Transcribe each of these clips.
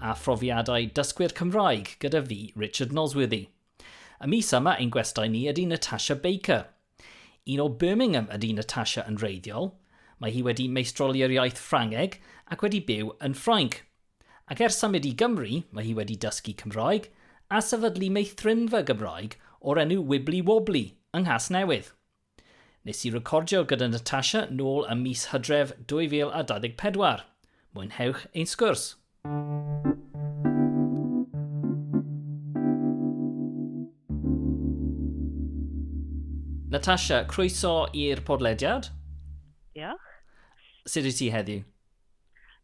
a phrofiadau dysgwyr Cymraeg gyda fi, Richard Nosworthy. Y mis yma ein gwestai ni ydy Natasha Baker. Un o Birmingham ydy Natasha yn reiddiol, mae hi wedi meistroli'r iaith Ffrangeg ac wedi byw yn Ffrainc. Ac ers symud i Gymru, mae hi wedi dysgu Cymraeg a sefydlu meithrinfa Gymraeg o'r enw Wibbly Wobbly yng Nghasnewydd. Nes i recordio gyda Natasha nôl ym mis Hydref 2024. Mwynhewch ein sgwrs! Natasha, croeso i'r podlediad. Diolch. Sut wyt ti heddiw?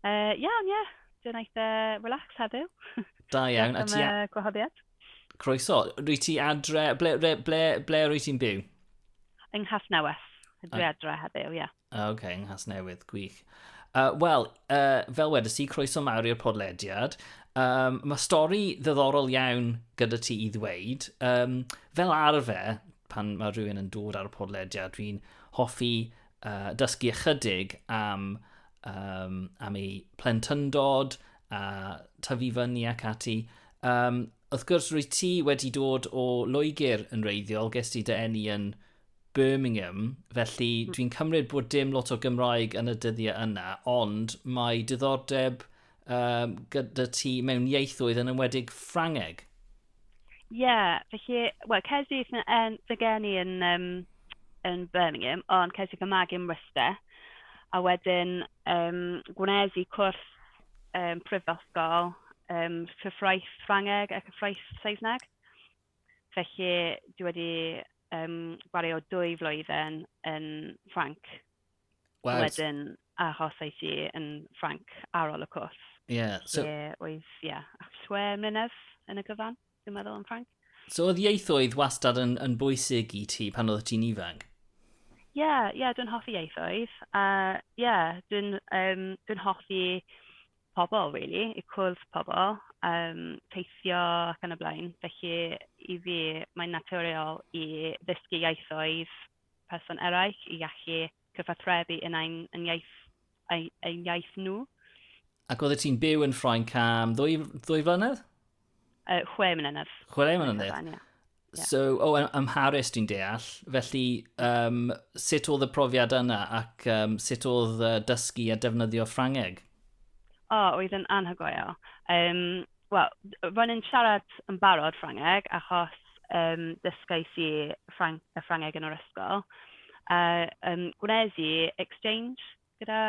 Uh, iawn, ie. Yeah. Dwi'n eitha relax heddiw. Da iawn. Diolch am y gwahoddiad. Croeso. Rwy ti adre... Ble, ble, ble, ble rwy ti'n byw? Yng Nghas Newydd. Dwi adre heddiw, ie. Yeah. Oce, okay, yng Nghas Newydd. Gwych. Uh, Wel, uh, fel wedys ti, croeso mawr i'r podlediad. Um, mae stori ddiddorol iawn gyda ti i ddweud. Um, fel arfer, pan mae rhywun yn dod ar y podlediad, dwi'n hoffi uh, dysgu ychydig am, um, am ei plentyndod a tyfu fyny ac ati. Um, wrth gwrs, rwy ti wedi dod o Loegr yn reiddiol, ges ti dy enni yn Birmingham, felly hmm. dwi'n cymryd bod dim lot o Gymraeg yn y dyddiau yna, ond mae diddordeb um, gyda ti mewn ieithoedd yn ymwedig Ffrangeg. Ie, yeah, felly, wel, ces i fy geni yn, um, yn Birmingham, ond ces i fy magu yn Worcester, a wedyn um, gwnes i cwrs um, prifysgol, um, cyfraith Ffrangeg a cyfraith Saesneg. Felly, dwi wedi um, gwario dwy flwyddyn yn Ffranc. Wow. Wedyn achos ei ti yn Ffranc ar ôl y cwrs. Ie. Yeah, so... Ie, oedd, ie, yeah, chwe mlynedd yn y gyfan. Dwi'n meddwl yn franc. So oedd ieithoedd wastad yn, yn bwysig i ti pan oedd ti'n ifanc? Ie, yeah, yeah, dwi'n hoffi ieithoedd. A uh, ie, yeah, dwi'n um, dwi hoffi pobl, really, i cwrdd pobl, um, teithio ac yn y blaen. Felly, i fi, mae'n naturiol i ddysgu ieithoedd person eraill, i allu cyfathrebu yn ein yn iaith ein ein iaith nhw. Ac oeddet ti'n byw yn Ffrainc am ddwy, ddwy flynedd? Uh, chwe mlynedd. Chwe mlynedd? Cyfan, yeah. Yeah. So, o, oh, ym Mharis dwi'n deall. Felly, um, sut oedd y profiad yna ac um, sut oedd uh, dysgu a defnyddio Ffrangeg? O, oh, oedd yn anhygoel. Um, Wel, ro'n i'n siarad yn barod Ffrangeg achos yym dysgais i Ffrain- y Ffrangeg yn yr ysgol, a yym gwnes i exchange gyda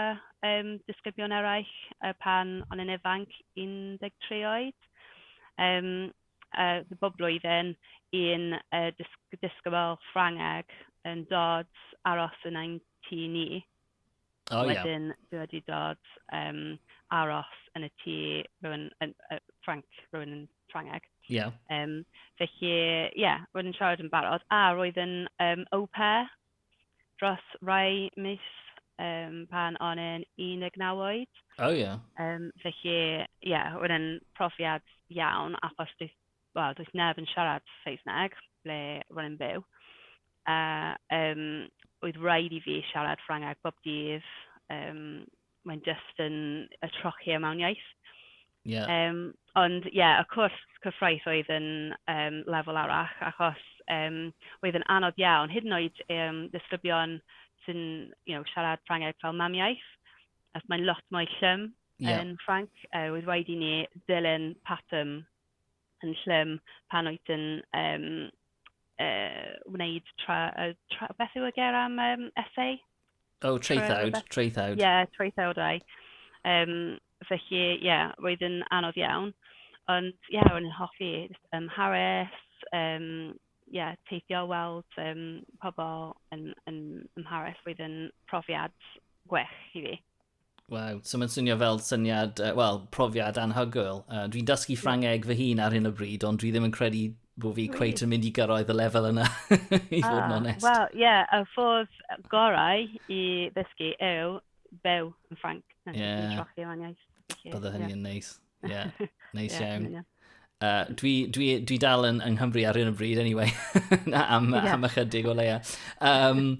yym disgyblion eraill yy pan o'n i'n ifanc, un deg tri oed, yym yy bob blwyddyn un yy dysg- disgybl Ffrangeg yn dod aros yn ein tŷ ni. Oh, yeah. Wedyn dwi wedi dod yym aros yn y tŷ rhywun yn yy Ffrainc, rhywun yn Ffrangeg. Ie. Yeah. Yym felly ie, roedd yn siarad yn barod a roedd yn yym au pair dros rai mis yym pan o'n i'n 19 oed. Oh, ie. Yeah. Yym felly ie, roedd yn profiad iawn achos dwi wel, does neb yn siarad Saesneg ble ro'n i'n byw, a yym oedd raid i fi siarad Ffrangeg bob dydd, yym mae'n jyst yn yy trochi e mewn iaith... Ie. ...yym ond ie y cwrs cyfraith oedd yn yym lefel arall achos yym oedd yn anodd iawn hyd yn oed yym ddisgyblion sy'n you know siarad Ffrangeg fel mamiaith achos mae'n lot mwy llym... Ie. ...yn Ffrainc yy oedd raid i ni ddilyn patrwm yn llym pan wyt yn yym yy wneud tra- yy tra- beth yw y ger am yym essay? O, traethawd, Tra- traethawd. Ie, yeah, traethawdau. Um, felly, ie, yeah, roedd yn anodd iawn. Ond, ie, yeah, ro'n i'n hoffi jyst ymharis, um, yeah, teithio, weld um, pobl yn, yn ymharis. Roedd yn profiad gwych i fi. Wow, so mae'n swnio fel syniad, uh, wel, profiad anhygoel. Uh, dwi'n dysgu Ffrangeg fy hun ar hyn o bryd, ond dwi ddim yn credu bod fi cweit yn mynd i gyrraedd y lefel yna, i fod yn ah, onest. Wel, ie, yeah, y ffordd gorau i ddysgu yw byw yn Ffranc. Ie. Yeah. Bydde hynny yn neis. Ie, yeah, neis nice iawn. Yeah, Uh, dwi, dwi, dwi dal yn, yng Nghymru ar un o bryd, anyway, am, yeah. am ychydig o leia. Um,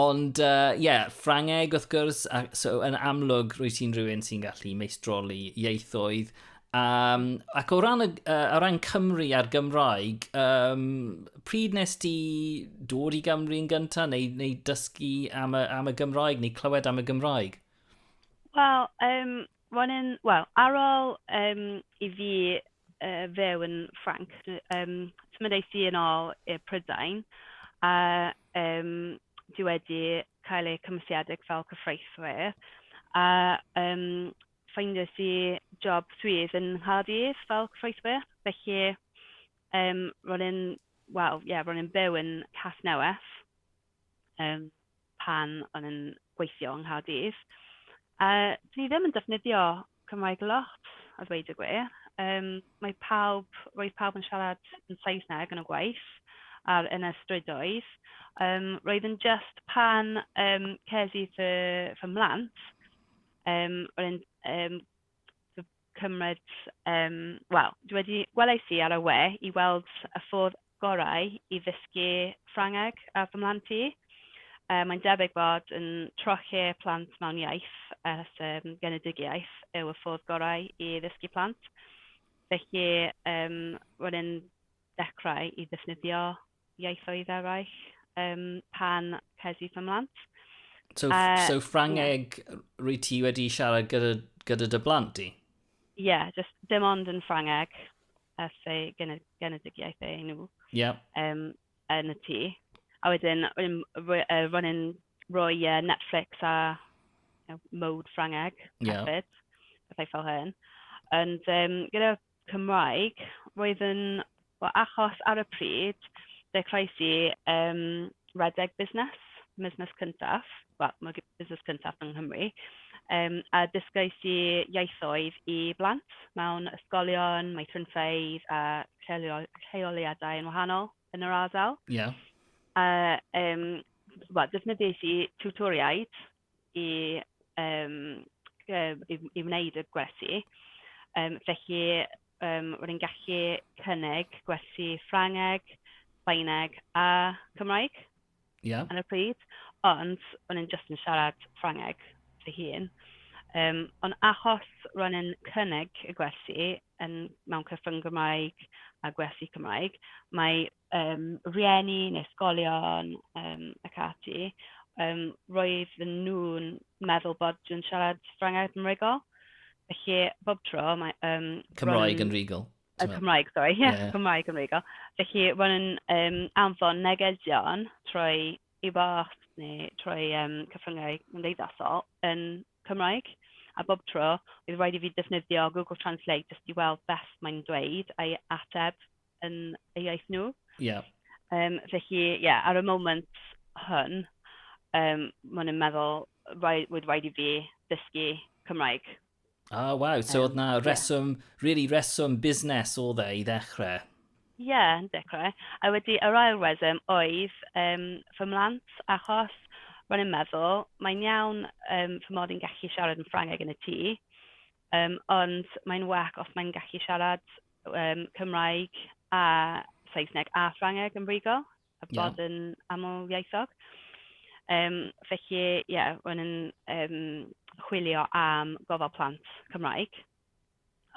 ond, ie, uh, yeah, Ffrangeg wrth gwrs, a, so yn amlwg rwy ti'n rhywun sy'n gallu meistroli ieithoedd, Um, ac o ran, uh, o ran Cymru a'r Gymraeg, um, pryd nes ti dod i Gymru yn gyntaf neu, neu dysgu am y, am y Gymraeg neu clywed am y Gymraeg? Wel, um, Ro'n i'n, wel, ar ôl yym i fi yy fyw yn Ffrainc, yym symud es i yn ôl i Prydain, a yym dwi wedi cael eu cymwysiedig fel cyfreithwyr, a yym ffeindiais i job swydd yng Nghaerdydd fel cyfreithwyr, felly yym ro'n i'n, wel, ie, ro'n i'n byw yn Casnewydd yym. pan o'n i'n gweithio yng Nghaerdydd, a 'dyn ni ddim yn defnyddio Cymraeg lot a ddweud y gwir. Yym mae pawb... roedd pawb yn siarad yn Saesneg yn y gwaith a'r yn y strydoedd. Yym roedd e'n jyst pan yym ces i fy fy mhlant yym roedd e'n yym... cymryd yym... wel, dwi wedi... welais i ar y we i weld y ffordd gorau i ddysgu Ffrangeg ar fy mhlant i. Yy mae'n debyg bod yn trochi plant mewn iaith ers yym genedigaeth yw y ffordd gorau i ddysgu plant, felly yym ro'n i'n dechrau i ddefnyddio ieithoedd eraill um, pan ces i fy mhlant. So, uh, so Ffrangeg yeah. rwy ti wedi siarad gyda, gyda dy blant i? Ie, yeah, just dim ond yn Ffrangeg, a fe genedigaeth ei nhw. Ie. Yeah. Um, yn y tŷ. A wedyn, ro'n i'n rhoi uh, Netflix a you know, mode Ffrangeg yeah. hefyd, pethau fel hyn. Ond um, gyda Cymraeg, roedd yn wel achos ar y pryd dechreuais i yym redeg busnes, busnes cyntaf, wel ma' g- busnes cyntaf yng Nghymru yym a dysgais i ieithoedd i blant mewn ysgolion, meithrinfeydd a lleolio- lleoliadau yn wahanol yn yr ardal. Ie. A yym wel defnyddiais i tiwtoriaid i yym yy i i wneud y gwersi. Yym felly yym ro'n i'n gallu cynnig gwersi Ffrangeg, Sbaeneg a Cymraeg... Ie. ...ar y pryd, ond ro'n i'n jyst yn siarad Ffrangeg fy hun. Yym ond achos ro'n i'n cynnig y gwersi yn mewn cyfrwng Gymraeg a gwersi Cymraeg, mae yym, rhieni neu ysgolion yym ac ati, yym roedden nhw'n meddwl bod dwi'n siarad Ffrangeg Cymreigol, felly bob tro mae yym... Cymraeg yn rhugl yy Cymraeg sori ie Cymraeg yn rhugl, felly ro'n i'n yym anfon negeseuon trwy e-bost neu trwy yym cyfryngau cymdeithasol yn Cymraeg, a bob tro oedd raid i fi defnyddio Google Translate jyst i weld beth mae'n dweud a'i ateb. yn eu iaith nhw. Ie. Yym, felly, ie, ar y moment hwn, yym, ma' nhw'n meddwl rai- roedd rhaid i fi ddysgu Cymraeg. O, waw, so oedd na Yym, ie. reswm, really reswm busnes oedd e i ddechrau? Ie, yn dechrau. A wedi yr ail reswm oedd yym fy mhlant, achos ro'n i'n meddwl, mae'n iawn yym fy mod i'n gallu siarad yn Ffrangeg yn y tŷ, Yym ond mae'n well os mae'n gallu siarad yym Cymraeg a Saesneg a Ffrangeg yn frigo... Ie. ...a bod yn amlieithog. Yym felly ie o'n i'n yym chwilio am gofal plant Cymraeg,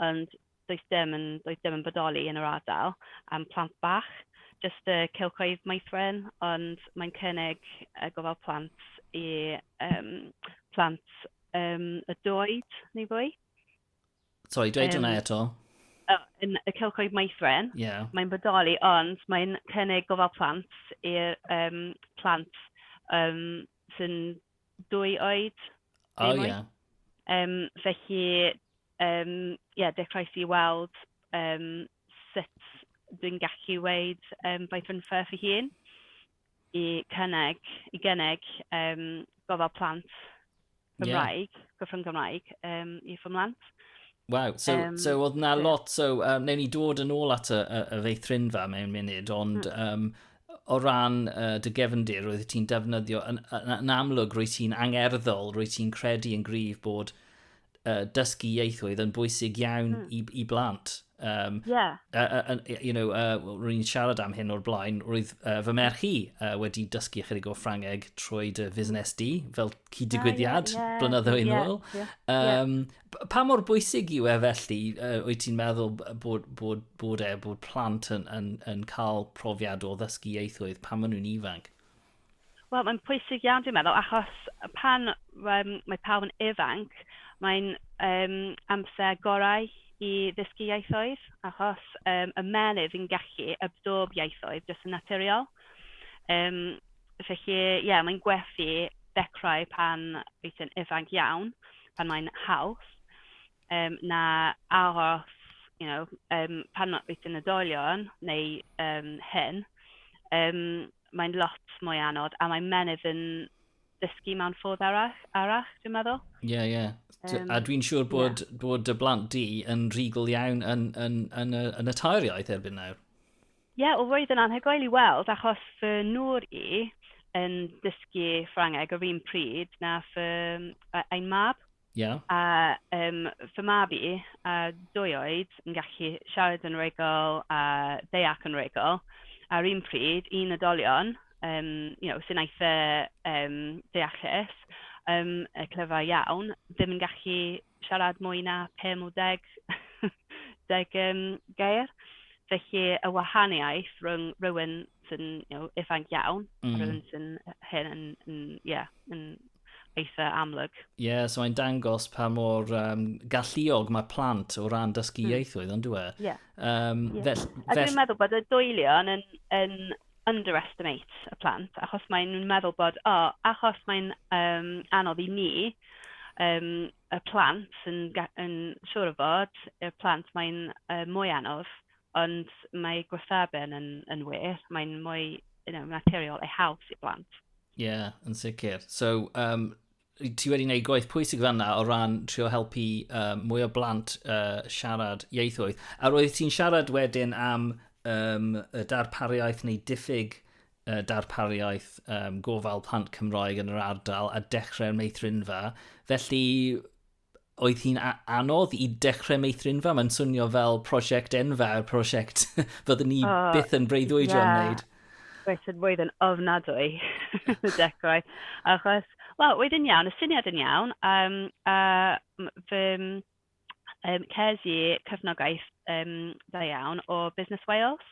ond does dim yn does dim yn bodoli yn yr ardal am plant bach, jyst y cylchoedd maethlon, ond mae'n cynnig yy gofal plant i yym plant um, y doed, neu fwy. Sorry, dweud um, hwnna eto. Oh, yn y cylchoedd maethwren, yeah. mae'n bodoli, ond mae'n cynnig gofal plant i'r um, plant um, sy'n dwy oed. O, oh, ie. Yeah. Um, felly, um, yeah, dechreuais i weld um, sut dwi'n gallu weid um, Bython Firth i hun. i cynnig, i gynnig yym gofal plant Cymraeg... Ie. ...Cyfrwng Gymraeg yym i fy mhlant. Waw, so yym... So oedd 'na lot, so yym wnewn ni dod yn ôl at y y y feithrinfa mewn munud, ond mm. yym o ran uh, dy gefndir, roedd ti'n defnyddio, yn, yn, yn amlwg roedd ti'n angerddol, roedd ti'n credu yn gryf bod uh, dysgu ieithoedd yn bwysig iawn mm. i, i blant. Um, yeah. Uh, uh, you know, uh, rwy'n ni'n siarad am hyn o'r blaen, roedd uh, fy merch i uh, wedi dysgu ychydig o Ffrangeg trwy dy fusnes di, fel cyd-digwyddiad, uh, yeah, yeah, blynyddo yn ôl. Yeah, yeah, um, yeah. Pa mor bwysig yw e felly, uh, wyt ti'n meddwl bod, bod, bod e, bod plant yn, yn, yn cael profiad o ddysgu ieithoedd pan maen nhw'n ifanc? Wel, mae'n pwysig iawn dwi'n meddwl, achos pan um, mae pawb yn ifanc, mae'n um, amser gorau i ddysgu ieithoedd, achos um, y menydd yn gallu absorb ieithoedd jyst yn naturiol. Um, felly, ie, yeah, mae'n gwerthu dechrau pan wyt ti'n ifanc iawn, pan mae'n haws, um, na aros, you know, um, pan wyt ti'n oedolion neu um, hyn. Um, mae'n lot mwy anodd a mae menydd yn dysgu mewn ffordd arall, arall dwi'n meddwl. Ie, yeah, ie. Yeah. Um, a dwi'n siŵr bod, yeah. bod y blant di yn rhugl iawn yn, yn, yn, yn, yn y tair iaith erbyn nawr. Ie, yeah, o roedd yn anhygoel i weld, achos fy nŵr i yn dysgu Ffrangeg yr un pryd na fy ein mab. Ie. A yym fy mab i a dwy oed yn gallu siarad yn wreiddiol a deall yn wreiddiol a'r un pryd i unigolion yym you know sy'n eitha yym deallus yym yy clyfar iawn ddim yn gallu siarad mwy na pum o deg deg yym gair. Felly y wahaniaeth rhwng rywun sy'n you know ifanc iawn... M-hm. ...a rywun sy'n hŷn yn yn ie yn... eitha amlwg. Ie, yeah, so mae'n dangos pa mor um, galluog mae plant o ran dysgu mm. ieithoedd, ond dwi e? Ie. Yeah. Um, yeah. Fel, fel... A dwi'n meddwl bod y dwylion yn, yn underestimate y plant, achos mae'n meddwl bod, o, oh, achos mae'n um, anodd i ni, um, y plant yn, yn siŵr o fod, y plant mae'n uh, mwy anodd, ond mae gwrtheben yn, yn wir, mae'n mwy you know, naturiol ei haws i blant. Ie, yeah, yn sicr. So, um, ti wedi gwneud gwaith pwysig fanna o ran trio helpu uh, mwy o blant uh, siarad ieithoedd. A roedd ti'n siarad wedyn am um, y darpariaeth neu diffyg uh, darpariaeth um, gofal plant Cymroeg yn yr ardal a dechrau'r meithrinfa. Felly, oedd hi'n anodd i dechrau meithrinfa? Mae'n swnio fel prosiect enfawr, prosiect fyddwn ni oh, byth yn breuddwydio yeah. wneud. Roedd yn mwy yn ofnadwy y dechrau. Achos, wel, oedd yn iawn, y syniad yn iawn. Um, a fy um, ces i cyfnogaeth um, dda iawn o Business Wales.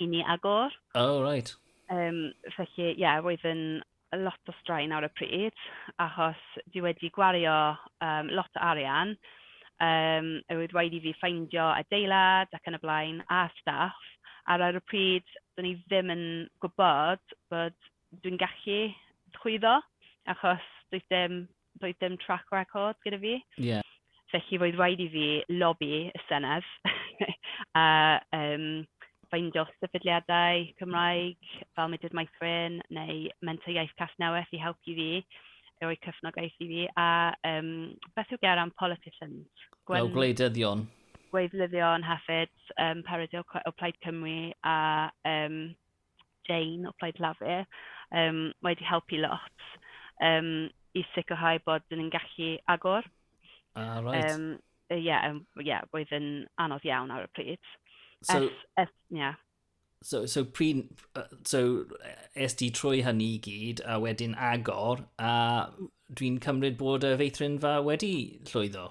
i ni agor. O, reit. Um, felly, ie, yeah, roedd yn lot o straen ar y pryd, achos dwi wedi gwario um, lot o arian. Um, roedd rhaid i fi ffeindio adeilad ac yn y blaen, a staff. Ar ar y pryd, dyn ni ddim yn gwybod bod dwi'n gallu chwyddo, achos doedd dim doedd dim track record gyda fi. Yeah. Felly roedd rhaid i fi lobby y Senedd a um, ffeindio sefydliadau Cymraeg fel Mudiad Maithrin neu Menter Iaith Casnewydd i helpu fi, i roi cyfnogaeth i fi. A um, beth yw ger am politicians? Gwen... Fel gwleidyddion. Gwleidyddion hefyd, um, Paris o Plaid Cymru a um, Jane o Plaid Lafur yym wedi helpu lot yym i sicrhau bod dan ni'n gallu agor... Ah reit. ...yym yy ie yym ie roedd yn anodd iawn ar y pryd. So... Ers ers ie. So so pryd yy so es di trwy hynny i gyd a wedyn agor a dwi'n cymryd bod y feithrinfa wedi llwyddo?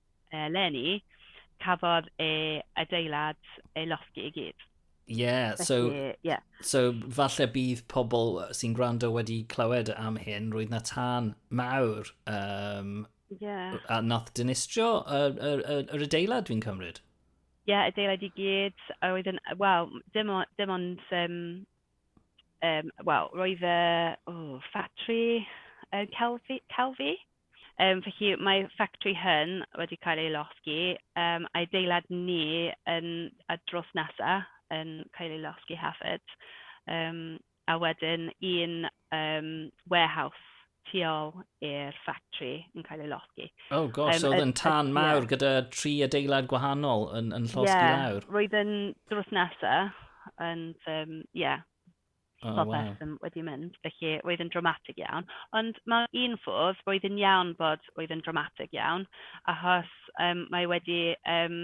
eleni, cafodd e adeilad ei losgi i gyd. Ie, yeah, so, yeah. so falle bydd pobl sy'n gwrando wedi clywed am hyn, roedd na tân mawr um, yeah. a nath dynistrio yr, yr, yr, yr adeilad dwi'n cymryd. Ie, yeah, adeilad i gyd, a roedd yn, wel, dim, on, dim ond um, yym wel roedd e o ffatri yy celfi celfi yym felly mae ffactri hŷn wedi cael ei losgi yym adeilad ni yn y drws nesa yn cael ei losgi hefyd yym a wedyn un um, warehouse tu ôl i'r ffactri yn cael ei losgi. Oh gosh, um, so oedd yn tan y, mawr yeah. gyda tri adeilad gwahanol yn, yn llosgi yeah, lawr? Ie, roedd yn drws nesa, ond ie, um, yeah, oh, popeth wow. wedi mynd, felly roedd yn dramatig iawn. Ond mae un ffordd, roedd yn iawn bod roedd yn dramatig iawn, achos um, mae wedi um,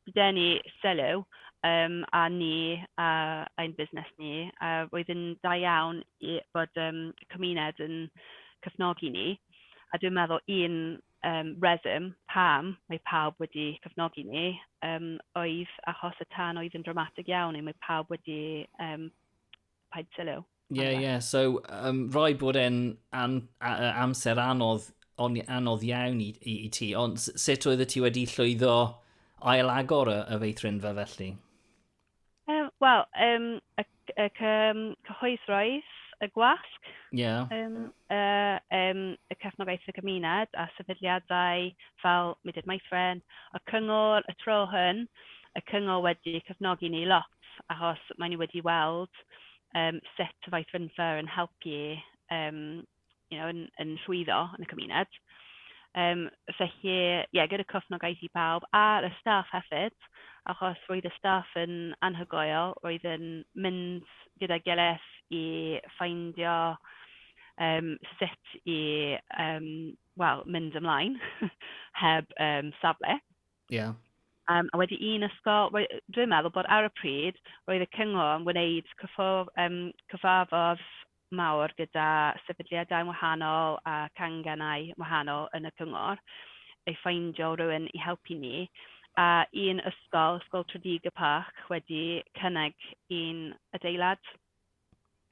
Bydden ni, sylw, yym a ni a ein busnes ni, a oedd yn da iawn i fod yym y cymuned yn cefnogi ni, a dwi'n meddwl un yym reswm pam mae pawb wedi cefnogi ni yym oedd achos y tân oedd yn dramatig iawn, a mae pawb wedi yym paid sylw. Ie, ie. Yeah. So, um, rhaid bod e'n am, amser anodd, on, anodd iawn i, i, i ti. Ond sut oedd y ti wedi llwyddo ail agor y, y feithrinfa felly? Um, Wel, um, y, y cyhoeddroedd, y gwasg, yeah. um, y, um, y cefnogaeth y gymuned a sefydliadau fel Mudiad Maithrin, y cyngor, y tro hyn, y cyngor wedi cyfnogi ni lot, achos maen nhw wedi weld yym sut y faith fynfa yn helpu yym you know yn yn llwyddo yn y cymuned. Yym felly ie gyda cefnogaeth i bawb a'r y staff hefyd achos roedd y staff yn anhygoel, roedd yn mynd gyda'i gilydd i ffeindio yym sut i yym wel mynd ymlaen heb yym safle. Ie. Um, a wedi un ysgol, dwi'n meddwl bod ar y pryd, roedd y cyngor yn wneud cyffordd, um, cyfarfod mawr gyda sefydliadau wahanol a canganau wahanol yn y cyngor, ei ffeindio rhywun i helpu ni. A un ysgol, Ysgol Tredegar Park, wedi cynnig un adeilad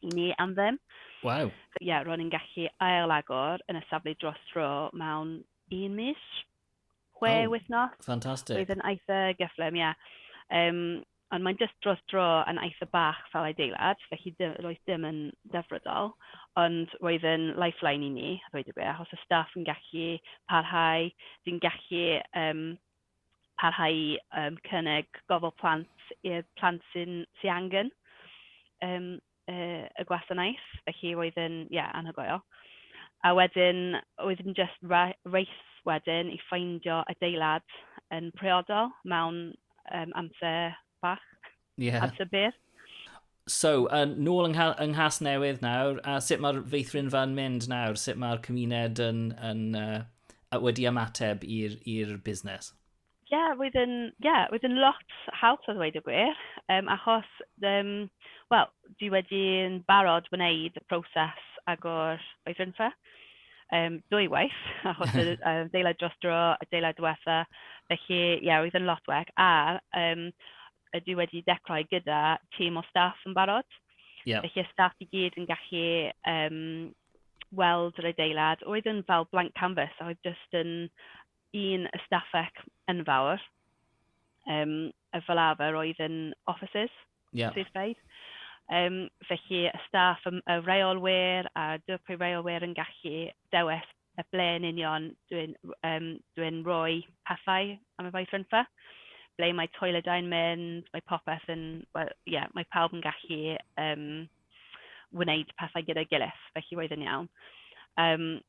i ni am ddim. Waw. Ie, yeah, ro'n i'n gallu ail agor yn y safle dros dro mewn un mis. chwe oh, wythnos. Fantastic. Oedd yn eitha gyfflym, ie. Yeah. Um, ond mae'n just dros dro yn eitha bach fel adeilad, felly dim, roedd dim yn defrydol, ond roedd yn lifeline i ni, roedd y gwir, os y staff yn gallu parhau, dwi'n gallu um, parhau um, cynnig gofal plant i'r plant sy'n sy angen. Um, yy y gwasanaeth, felly roedd e'n ie anhygoel. A wedyn oedd e'n jyst ra- race wedyn i ffeindio adeilad yn priodol mewn yym amser bach... Ie. ...amser byr. So, yn nôl yng Ngha- yng Nghasnewydd nawr, a sut mae'r feithrinfa yn mynd nawr? Sut mae'r cymuned yn, yn, uh, wedi ymateb i'r busnes? Ie, roedd e'n... ie roedd e'n lot haws a ddweud y gwir, yym achos yym wel dwi wedi yn barod wneud y proses agor oedrynfa yym dwywaith achos yr yy adeilad dros dro, adeilad diwetha', felly ie roedd e'n lot wag a yym dwi wedi dechrau gyda tîm o staff yn barod... Ie. ...felly y staff i gyd yn gallu yym weld yr adeilad, roedd e'n fel blank canvas a oedd jyst yn un ystafell enfawr, yym fel arfer oedd yn offices... Ie. ...swyddfeydd, yym felly y staff, yym y reolwyr a'r dirprwy reolwyr yn gallu dewis y ble yn union dwi'n yym dwi'n rhoi pethau am y weithredfa, ble mae toiledau'n mynd, mae popeth yn wel ie mae pawb yn gallu yym wneud pethau gyda'i gilydd, felly roedd e'n iawn yym.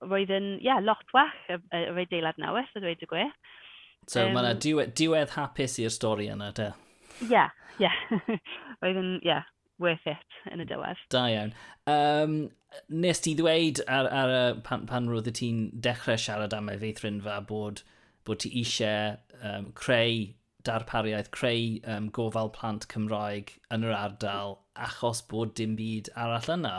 Roedd yn, ie, lot well, yr, yr adeilad newydd, a dweud y gwir. So, um, mae yna diwedd, diwedd hapus i'r stori yna, te? Ie, yeah, ie. Yeah. Roedd yn, ie, yeah, worth it yn y diwedd. Da iawn. Um, nes ti ddweud ar, ar, ar, pan, pan roedd ti'n dechrau siarad am efeithrinfa bod bod ti eisiau um, creu darpariaeth creu um, gofal plant Cymraeg yn yr ardal achos bod dim byd arall yna.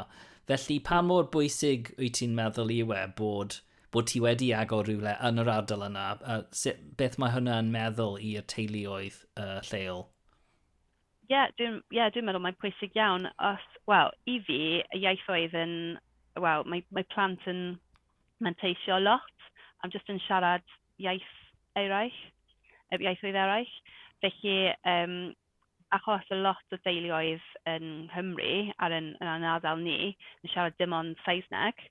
Felly pa mor bwysig wyt ti'n meddwl i we bod, bod ti wedi agor rhywle yn yr ardal yna? A sut, beth mae hwnna yn meddwl i'r teuluoedd uh, lleol? Ie, yeah, dwi'n yeah, dwi meddwl mae'n pwysig iawn. Os, wel, i fi, y ieithoedd yn, wel, mae, mae plant yn manteisio lot am jyst yn siarad iaith eraill, yy iaithoedd eraill, felly yym achos y lot o deuluoedd yn Nghymru ar yn yn ein ardal ni yn siarad dim ond Saesneg,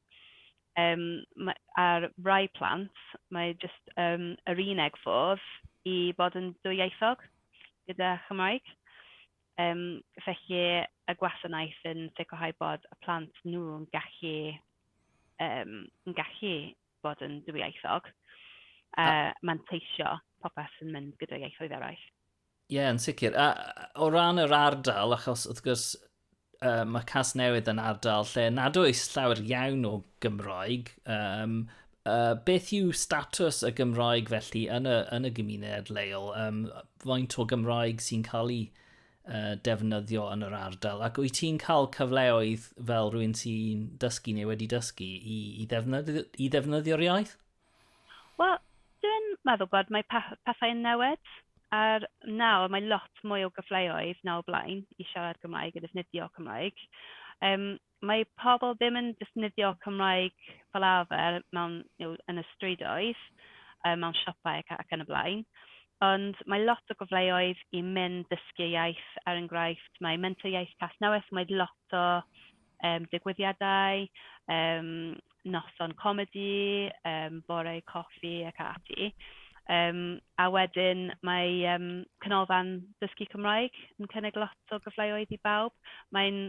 yym ma' ar rai plant mae jyst yym yr uneg ffordd i fod yn dwyieithog gyda Chymraeg, yym felly y gwasanaeth yn sicrhau bod y plant nhw yn gallu yym yn gallu bod yn dwyieithog, a manteisio popeth sy'n mynd gyda ieithoedd eraill. Ie, yeah, yn sicr. A, o ran yr ardal, achos wrth gwrs uh, mae Cas Newydd yn ardal lle nad oes llawer iawn o Gymroeg. Um, uh, beth yw status y Gymroeg felly yn y, yn y gymuned leol? Um, faint o Gymroeg sy'n cael ei defnyddio yn yr ardal ac wyt ti'n cael cyfleoedd fel rwy'n sy'n dysgu neu wedi dysgu i, i, ddefnyddio, i ddefnyddio'r iaith? Wel, dwi'n meddwl bod mae pethau yn newid a'r nawr mae lot mwy o gyfleoedd nawr blaen i siarad Cymraeg a defnyddio Cymraeg. Um, mae pobl ddim yn defnyddio Cymraeg fel arfer mewn you know yn y strydoedd, yy mewn siopau ac ac yn y blaen, ond mae lot o gyfleoedd i mynd dysgu iaith, er enghraifft mae Menter Iaith Casnewydd, mae lot o yym digwyddiadau, yym noson comedi, yym bore coffi ac ati, yym a wedyn mae yym Canolfan Dysgu Cymraeg yn cynnig lot o gyfleoedd i bawb, mae'n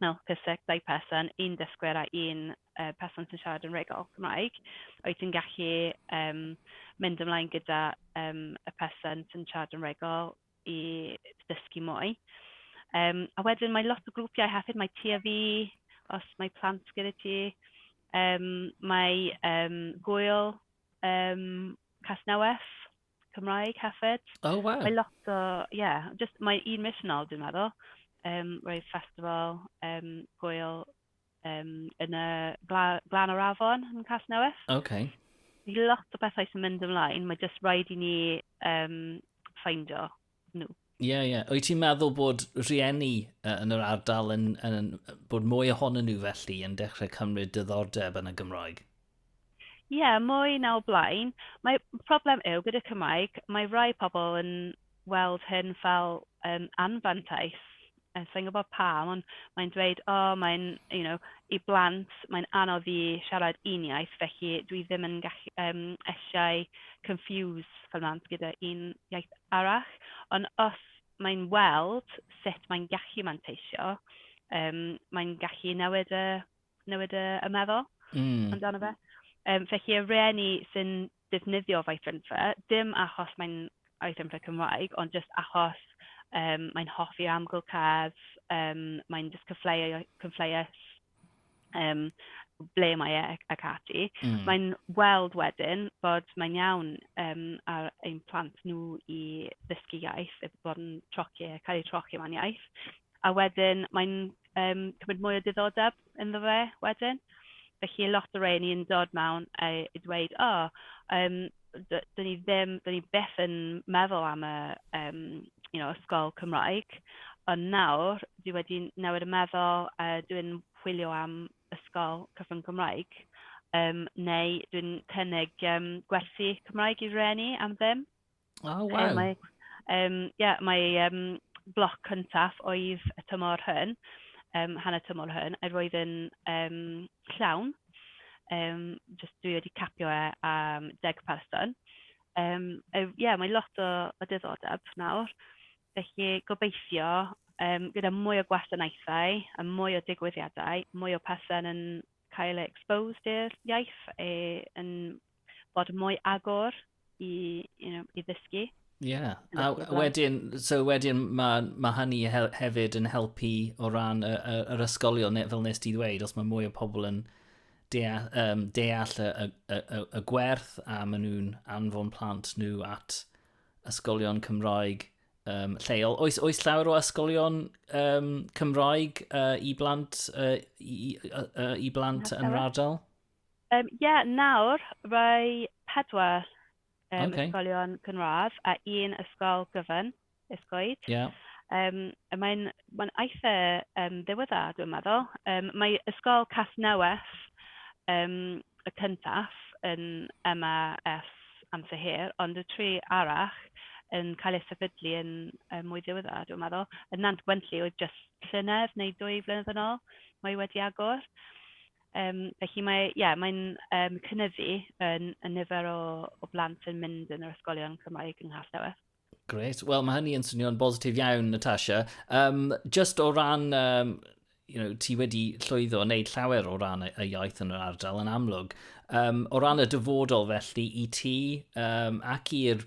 Nawr, ffiseg, dau person, un dysgwyr a un yy person sy'n siarad yn rhugl Cymraeg, wyt ti'n gallu yym mynd ymlaen gyda yym y person sy'n siarad yn rhugl i ddysgu mwy? Yym a wedyn mae lot o grwpiau hefyd, mae Tŷ a Fi, os mae plant gyda ti, yym mae yym Gŵyl yym Casnewydd. Cymraeg hefyd. O waw. Mae lot o ie jyst mae un mis yn ol dwi'n meddwl yym roedd festival yym gwyl yym yn y gla- glan o'r afon yn Casnewydd. Ok. Mae lot o bethau sy'n mynd ymlaen, mae jyst raid i ni yym ffeindio. nhw. Ie, yeah, ie. Yeah. Wyt ti'n meddwl bod rhieni uh, yn yr ardal yn, yn, yn, bod mwy ohonyn nhw felly yn dechrau cymryd dyddordeb yn y Gymraeg? Ie, yeah, mwy na o blaen. Mae problem yw gyda Cymraeg, mae rhai pobl yn weld hyn fel um, anfantais sa i'n gwybod pam, ond mae'n dweud, o, mae'n, you know, i blant, mae'n anodd i siarad un iaith, felly dwi ddim yn gallu yym eisiau confuse fy mhlant gyda un iaith arall. Ond os mae'n weld sut mae'n gallu manteisio, yym mae'n gallu newid y newid y y meddwl... Mm. ...amdano fe. Yym felly y rhieni sy'n defnyddio Vythynfa, dim achos mae'n Vythynfa Cymraeg, ond jyst achos yym mae'n hoffi amgylchedd, yym mae'n jyst cyfleu- cyfleus yym ble mae e ac ac ati. Mm. Mae'n weld wedyn bod mae'n iawn yym ar ein plant nhw i ddysgu iaith, i bod yn troci, cael eu trochi mewn iaith, a wedyn mae'n yym cymryd mwy o diddordeb. ynddo fe wedyn. Felly oedd lot o rheiny yn dod mewn a dweud, "o yym d- dan ni ddim... dan ni byth yn meddwl am y yym you know ysgol Cymraeg, ond nawr dwi wedi newid y meddwl a dwi'n chwilio am ysgol cyfrwng Cymraeg yym neu dwi'n cynnig yym gwersi Cymraeg i rhieni am ddim". O, oh, waw. Mae, um, yeah, mae um, bloc cyntaf oedd y tymor hyn, um, hanner tymor hyn, a roedd yn um, llawn. Um, just dwi wedi capio e am deg person. Um, e, yeah, mae lot o, o diddordeb nawr. Felly gobeithio um, gyda mwy o gwasanaethau a mwy o digwyddiadau, mwy o person yn cael eu exposed i'r iaith e, yn bod mwy agor i, you know, i ddysgu. Ie, yeah. a wedyn, so wedyn mae ma hynny hefyd yn helpu o ran y, y, yr ysgolion, fel nes ti ddweud, os mae mwy o pobl yn deall, um, deall y, y, y, y gwerth a maen nhw'n anfon plant nhw at ysgolion Cymraeg um, lleol. Oes, oes llawer o ysgolion um, Cymraeg uh, i blant, uh, i, uh, i blant yn yr ardal? Yym, ie, nawr mae pedwar yym... Ok. ...ysgolion cynradd a un ysgol gyfun, Esgoed. Ie. Yym a mae'n mae'n eitha yym ddiweddar dwi'n meddwl. Yym mae ysgol Casnewydd yym y cyntaf yn yma ers amser hir, ond y tri arall yn cael eu sefydlu yn yym mwy ddiweddar dwi'n meddwl. Yn Nant Gwentli oedd jyst llynedd neu dwy flynedd yn ôl mae wedi agor. Yym felly mae ie mae'n yym cynyddu yn y nifer o o blant yn mynd yn yr ysgolion Cymraeg yng Nghastell. Grêt. Wel, mae hynny yn swnio'n bositif iawn, Natasha. Um, just o ran, um, you know, ti wedi llwyddo wneud llawer o ran y, y iaith yn yr ardal yn amlwg. Um, o ran y dyfodol felly i ti um, ac i'r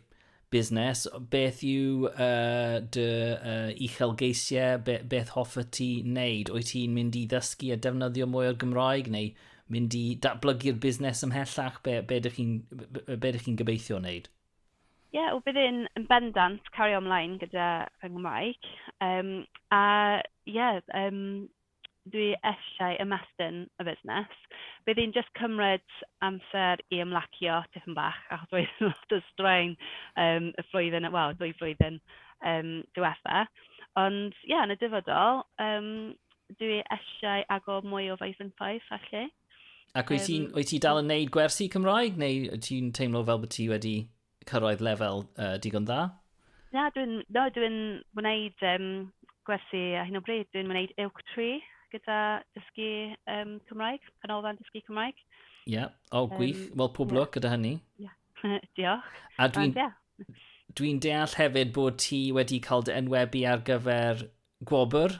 busnes, beth yw uh, dy uh, uchelgeisiau, be, beth hoffa ti wneud? Wyt ti'n mynd i ddysgu a defnyddio mwy o'r Gymraeg neu mynd i datblygu'r busnes ymhellach? Be, be ydych chi'n chi gobeithio wneud? Ie, yeah, bydd yn, yn bendant cario ymlaen gyda fy Nghymraeg. Um, a ie, yeah, um, dwi eisiau ymestyn y busnes, bydd hi'n jyst cymryd amser i ymlacio tipyn bach, achos roedd lot o straen yym y flwyddyn, wel y ddwy flwyddyn yym diwetha'. Ond ie, yn y dyfodol, yym dwi eisiau agor mwy o faethinsaith felly. Ac wyt ti'n... wyt ti dal yn wneud gwersi Cymraeg neu wyt ti'n teimlo fel bod ti wedi cyrraedd lefel uh, digon dda? Na, dwi'n no, dwi gwneud um, gwersi a hyn o bryd. Dwi'n gwneud Ilk Tree gyda dysgu um, Cymraeg, canolfan dysgu Cymraeg. Ie, yeah. o oh, gwych. Um, Wel, pob yeah. lwc gyda hynny. Yeah. Diolch. A dwi'n yeah. dwi deall hefyd bod ti wedi cael dy enwebu ar gyfer gwobr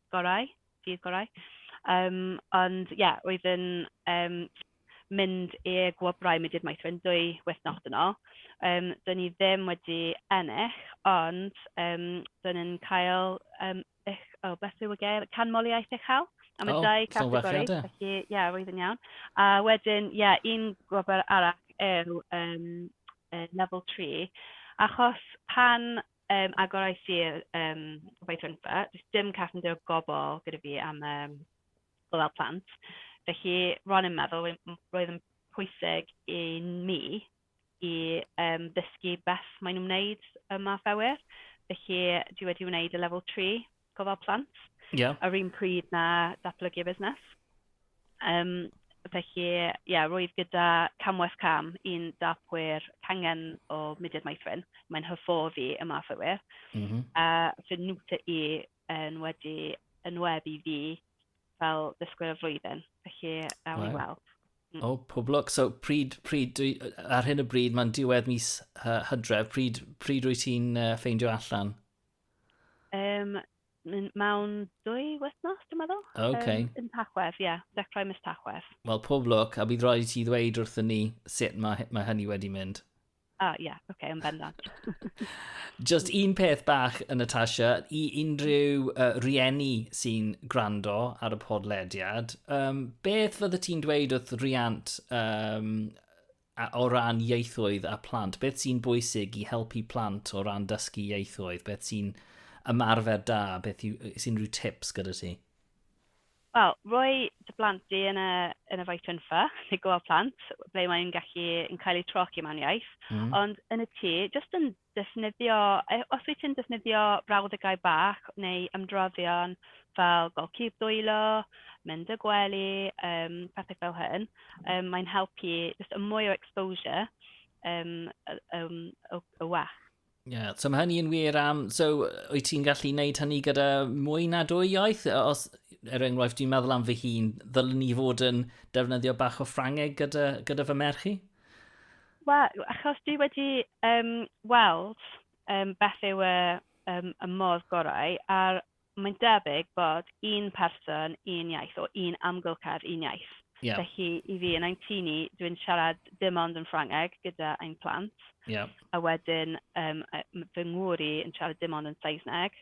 gorau, dydd gorau. Yym ond ie oedd yn yym mynd i'r gwobrau mudiad maethwr yn dwy wythnos yn ôl. Yym do'n ni ddim wedi ennill ond yym do'n ni'n cael yym uch- oh bless you again canmoliaeth uchel am y dau categori. Felly ie roedd yn iawn. A wedyn ie un gwobr arall yw yym yy level tri achos pan Yym agor ai sir yym Byfrynfa. Does dim carpenter o gwbl gyda fi am yym gofal plant. Felly ro'n i'n meddwl roedd m- roedd yn pwysig i n- mi i yym ddysgu beth maen nhw'n wneud ym Maes Awyr, felly dwi wedi wneud y level three. gofal plant yeah. yr un pryd na datblygu busnes. Um, felly, ie, yeah, roedd gyda Camwes Cam un dapwyr cangen o Mudiad Maethrin. Mae'n hyfforddi y math o wir. Mm -hmm. A fy nwta i yn wedi yn web i fi fel dysgwyr y flwyddyn. Felly, awn ni weld. Mm. O, oh, pob lwc. So, pryd, pryd, dwi, ar hyn y bryd, mae'n diwedd mis uh, hydref, pryd, pryd wyt ti'n uh, ffeindio allan? Um, mewn dwy wythnos, dwi'n meddwl. OK. Um, yn Tachwedd, ie. Yeah. Dechrau mis Tachwedd. Wel, pob lwc, a bydd rhaid i ti ddweud wrthyn ni sut mae, mae hynny wedi mynd. Ah, ie, yeah, okay, yn bendant. Just un peth bach, yn Natasha, i unrhyw uh, rieni sy'n gwrando ar y podlediad, um, beth fydde ti'n dweud wrth riant um, A o ran ieithoedd a phlant, beth sy'n bwysig i helpu plant o ran dysgu ieithoedd? Beth sy'n ymarfer da? Beth yw, sy'n rhyw tips gyda ti? Wel, roi dy blant di yn y, yn y faetynfa, neu gofal plant, ble mae'n gallu yn cael ei troci mewn iaith. Mm. Ond yn y tŷ, jyst yn defnyddio, os wyt ti'n defnyddio brawddegau bach neu ymdroddio'n fel gweld cig dwylo, mynd y gwely, yym pethau fel hyn, yym mae'n helpu jyst y mwy o exposure yym y yym y y well. Ie, yeah, so mae hynny yn wir am... So, wyt ti'n gallu wneud hynny gyda mwy na dwy iaith? Os, er enghraifft, dwi'n meddwl am fy hun, ddylwn ni fod yn defnyddio bach o Ffrangeg gyda, gyda fy merch i? Wel, achos dwi wedi yym weld yym beth yw y yym y modd gorau, a'r mae'n debyg bod un person, un iaith, or un amgylchedd, un iaith. Ie. Felly i fi, yn ein tŷ ni, dwi'n siarad dim ond yn Ffrangeg gyda ein plant... Ie. ...a wedyn yym yy m- fy ngŵr i yn siarad dim ond yn Saesneg,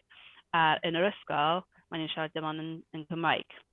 a yn yr ysgol, maen nhw'n siarad dim ond yn yn Cymraeg.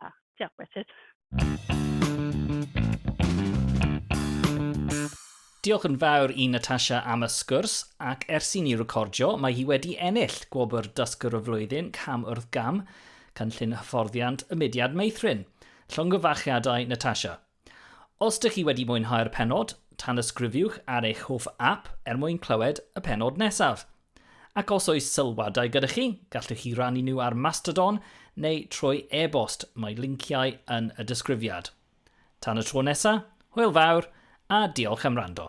Ah, diolch, Richard. Diolch yn fawr i Natasha am y sgwrs, ac ers i ni recordio, mae hi wedi ennill gwobr Dysgwr y Flwyddyn cam wrth gam, cynllun hyfforddiant y mudiad meithrin. Llongyfarchiadau, Natasha. Os dych chi wedi mwynhau'r pennod, tanysgrifiwch ar eich hoff ap er mwyn clywed y pennod nesaf. Ac os oes sylwadau gyda chi, gallwch chi rannu nhw ar Mastodon neu trwy e-bost, mae linciau yn y disgrifiad. Tan y tro nesaf, hwyl fawr a diolch am wrando.